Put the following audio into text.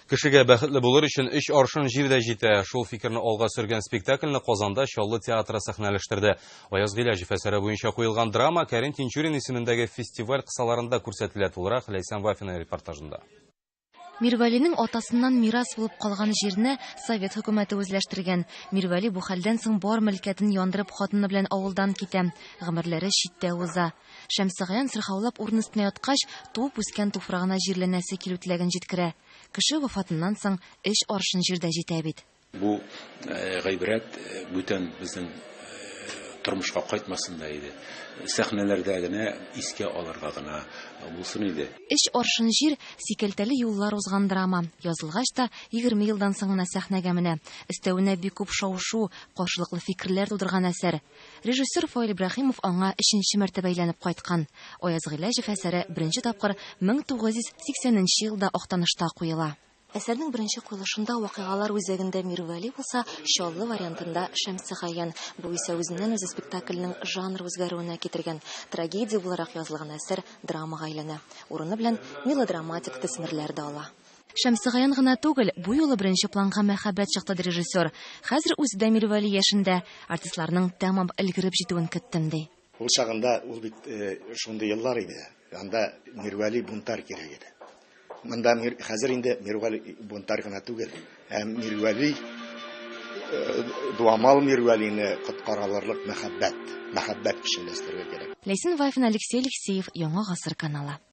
Кешегә бәхетле булыр өчен өч аршын җир дә җитә. Шул фикерне алга сөргән спектакльне Казанда Чаллы театры сәхнәләштерде. Аяз Гыйләҗев әсәре буенча куелган драма Кәрим Тинчурин исемендәге фестиваль кысаларында күрсәтелә, тулырак Ләйсән Вафина репортажында. Мирвәлинең атасыннан мирас булып калган җирне совет хөкүмәте үзләштергән. Мирвәли бу хәлдән соң бар мөлкәтен яндырып хатыны белән авылдан китә. Гомерләре читтә уза. Шәмсегаян сырхаулап урын өстенә яткач, туып-үскән туфрагына җирләнәсе килү теләген җиткерә. Кеше вафатыннан соң өч аршын җир дә җитә бит. Бу гыйбрәт бүтән безнең тормышка кайтмасын да иде. Сәхнәләрдә генә искә алырга гына булсын иде. Өч аршын җир, сикәлтәле юллар узган драма, язылгач та, егерме елдан соң гына сәхнәгә менә. Өстәвенә бик күп шау-шу, каршылыклы фикерләр тудырган әсәр. Режиссер Фаил Ибраһимов аңа өченче мәртәбә әйләнеп кайткан. Аяз Гыйләҗев әсәре беренче тапкыр 1980 нче елда Актанышта куела. Әсәрнең беренче куелышында вакыйгалар үзәгендә Мирвәли булса, Чаллы вариантында Шәмсегаян. Бу исә үзеннән-үзе спектакльнең жанр үзгәрүенә китергән. Трагедия буларак язылган әсәр драмага әйләнә. Урыны белән мелодраматик төсмерләр дә ала. Шәмсегаян гына түгел, бу юлы беренче планга мәхәббәт чыкты, ди режиссер. Хәзер үзе дә милвәли яшендә, артистларның тәмам өлгереп җитүен көттем, ди. Ул чагында ул бит шундый еллар иде, анда мирвәли бунтарь кирәк иде. Монда хәзер инде мирвәли бунтарь гына түгел, ә мирвәли, дуамал мирвәлине коткара алырлык мәхәббәт, мәхәббәт кешеләштерергә кирәк. Ләйсән Вафина, Алексей Алексеев, Яңа гасыр каналы.